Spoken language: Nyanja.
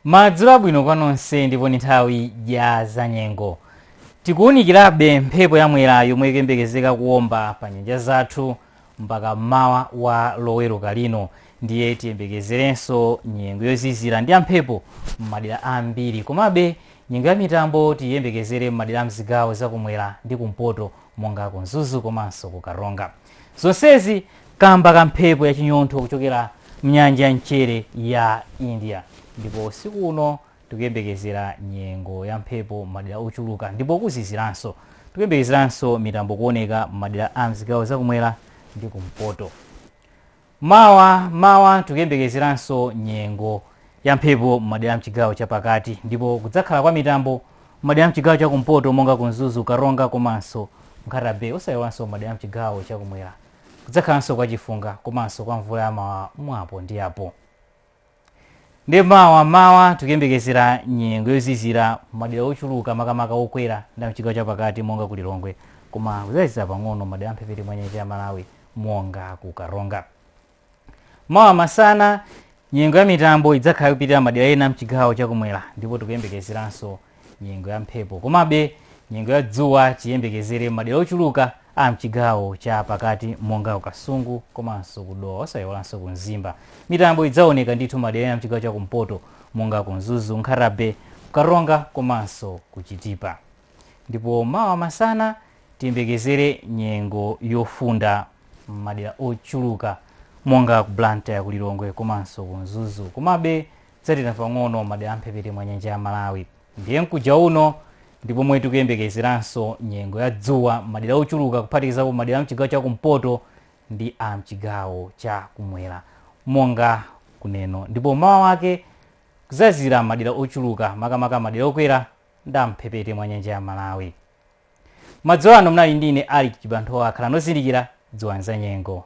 Madzulo abwino kwa nonse ndipo ni nthawi ya zanyengo. Tikuwunikirabe mphepo ya mwera yomwe ikuyembekezeka kuwomba pa nyanja zathu mpaka mmawa wa loweruka lino ndiye tiyembekezerenso nyengo yozizira ndi yamphepo m'madera ambiri komabe nyengo ya mitambo tiyembekezere m'madera a mzigawo za kumwera ndi kumpoto monga ku mzuzu komanso ku karonga zonsezi kamba ka mphepo ya chinyontho kuchokera mnyanja ya mchere ya india ndipo usiku uno tikuyembekezera nyengo ya mphepo m'madera ochuluka ndipo kuziziranso tikuyembekezeranso mitambo kuoneka m'madera a mzigawo zakumwera ndi kumpoto Mawa mmawa tikuyembekezeranso nyengo ya mphepo m'madera amchigawo chapakati ndipo kudzakhala kwa mitambo m'madera amchigawo chakumpoto monga ku Mzuzu, Karonga komanso Nkhata Bay osayiwalanso m'madera amchigawo chakumwera kudzakhalanso kwa chifunga komanso kwa mvula ya mawawa mwapo ndi apo. Ndiye mawa mmawa tikuyembekezera nyengo yozizira madera ochuluka makamaka okwera ndi a mchigawo chapakati monga ku Lilongwe koma kudzazizira pang'ono madera amphepete mwa nyanja ya Malawi monga ku Karonga. Mawa masana nyengo ya mitambo idzakhala ikupitirira madera ena mchigawo chakumwera ndipo tikuyembekezeranso nyengo ya mphepo komabe nyengo ya dzuwa tiyembekezere m'madera ochuluka a mchigawo cha pakati monga ku kasungu komanso kudowa osayiwalanso ku mzimba mitambo idzaoneka ndithu madera ena mchigawo cha kumpoto monga ku mzuzu nkhata bay karonga komanso kuchitipa ndipo mawa masana tiyembekezere nyengo yofunda m'madera ochuluka monga ku blantyre ku lilongwe komanso ku mzuzu komabe Kudzatentha pang'ono madera a mphepete mwa nyanja ya Malawi ndiye mkuja uno ndi pomwe tikuyembekezeranso nyengo ya dzuwa madera ochuluka kuphatikizapo madera a mchigawo cha kumpoto ndi a mchigawo cha kumwera monga kuneno ndipo mmawa wake kudzazizira madera ochuluka makamaka madera okwera ndi a mphepete mwa nyanja ya Malawi. Madzulo ano munali ndi ine Alick Chibanthowa khalani ozindikira dziwani za nyengo.